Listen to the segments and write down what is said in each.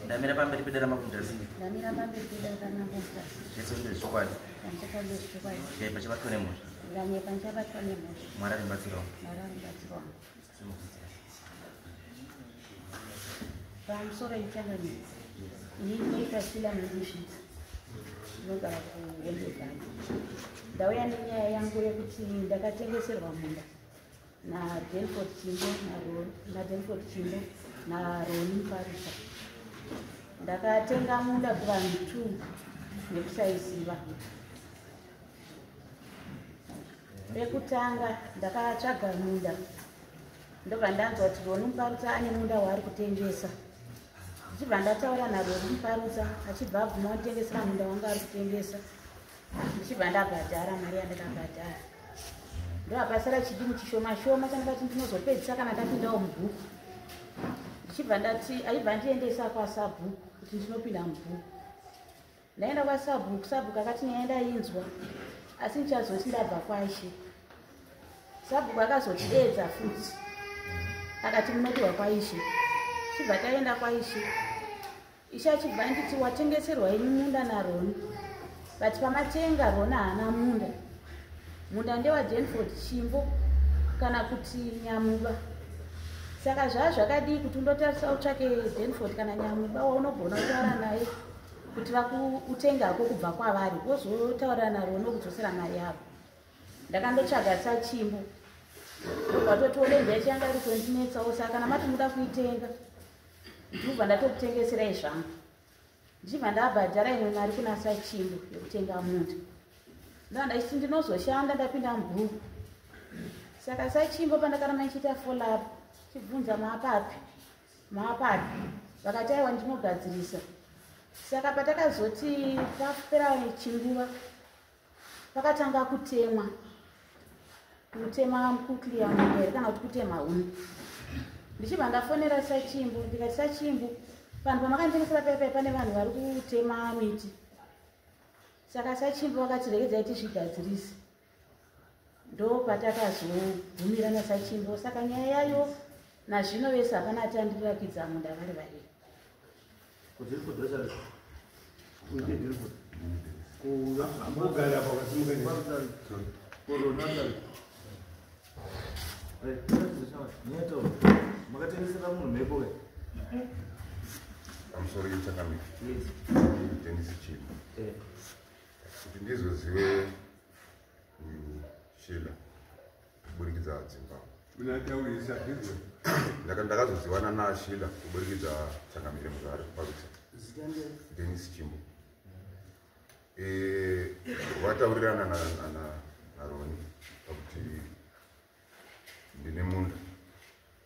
ndamira pamberi pedera mabudhasi ndamira pamberi pedera kana mabudhasi zvese zvine zvikwadi ndachapa zvine zvikwadi dai pachabatwa nemhosva ndanye pachabatwa nemhosva mwari aribatsira wangu mwari aribatsira wangu pamusoro yechangani ini ndinoita sila mandishi ndinogara kuwembezani ndauya nenyaya yangu yekuti ndakatengeserwa munda nadelford chimbo nadelford chimbo naroni mfarisa ndakatenga munda kuvanhu t nekusaiziva pekutanga ndakatsvaga munda ndobva ndanzwa kuti roni mfarisa ane munda waari kutengesa ndichibva ndataura naroni mfarisa achibva abvuma kutengesera munda wanga ari kutengesa ndichibva ndabhadhara mari yandakabhadhara ndoapasara chidimu chishoma shoma chandikati ndinozopedzisa kana ndapindawo mubhuku ndichibva ndati aibva ndiendesa kwasabhuku kuti ndinopinda mubhuku ndaenda kwasabhuku sabhuku akati nyaya ndainzwa asi ndichazoti ndabva kwaishe sabhuku akazotiedza futi akati munopiwa kwaishe chibva taenda kwaishe Ishe achibva anditi watengeserwa ini munda naRoni but pamatenga Roni haana munda munda ndewadenford chimbo kana kuti nyamuba saka zvaa zvakadii kuti undotarisa utsvake denford kana nyamuba waunogona kutaura naye kuti vakutenga hako kubva kwavari wozotaurira naro nokudzosera mari yavo ndakandotsvaga sachimbo ndobva totiwo denja ichiyanga iri kundinetsawo saka kana mati muda kuitenga ndibva ndatokutengeserai zvangu ndichibva ndabhadhara imwe mari kuna sachimbo yekutenga munda ndaa ndachiti ndinozoshanda ndapinda mubhuku saka sachimbo pandakaramba ndichiita folap chibvunza maapapi maapapi vakati aiwa ndinogadzirisa saka patakazoti papera chinguva pakatanga kutemwa kutema kukliya mugere kana kuti kutema huni ndichibva ndafonera sachimbu ndikati sachimbu vanhu pamakanditengesera pepe pane vanhu vari kutema miti saka sachimbu vakati regedzai tizvigadzirise ndo patakazogumira nasachimbo saka nyaya yayo nazvino vese hapana ati andirirakidza munda vari vairi makatengesera munhu mhepo ke pamusoro yechakamika kutengesa chinhu eh. kuti ndizozive uyu shela kuburikidza dzimba ndakazozivana naashila kuburikidza changamire muzvare kubarutsa denis chimbo vataurirana naroni pakuti ndine munda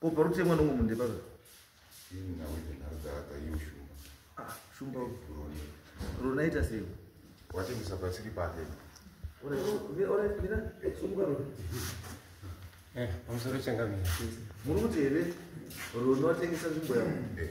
ko pari kuti mwana umwe mundepa zva ah, shumba runaita sei watengesa pasiri pake eh, pamusoro changamira muri kuti here runotengesa nzvimbo yavo eh.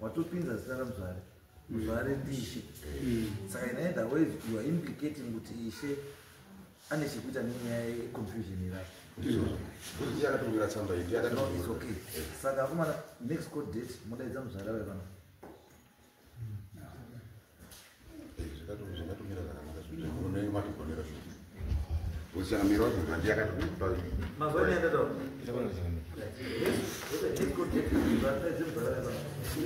watopinza zita ramuzvare muzvare ndiishe saka inaenda wave you are implicating kuti ishe ane chekuita nenyaya yeconfusion irapo saka akomana next court date modaidza muzvare ave pano mazuva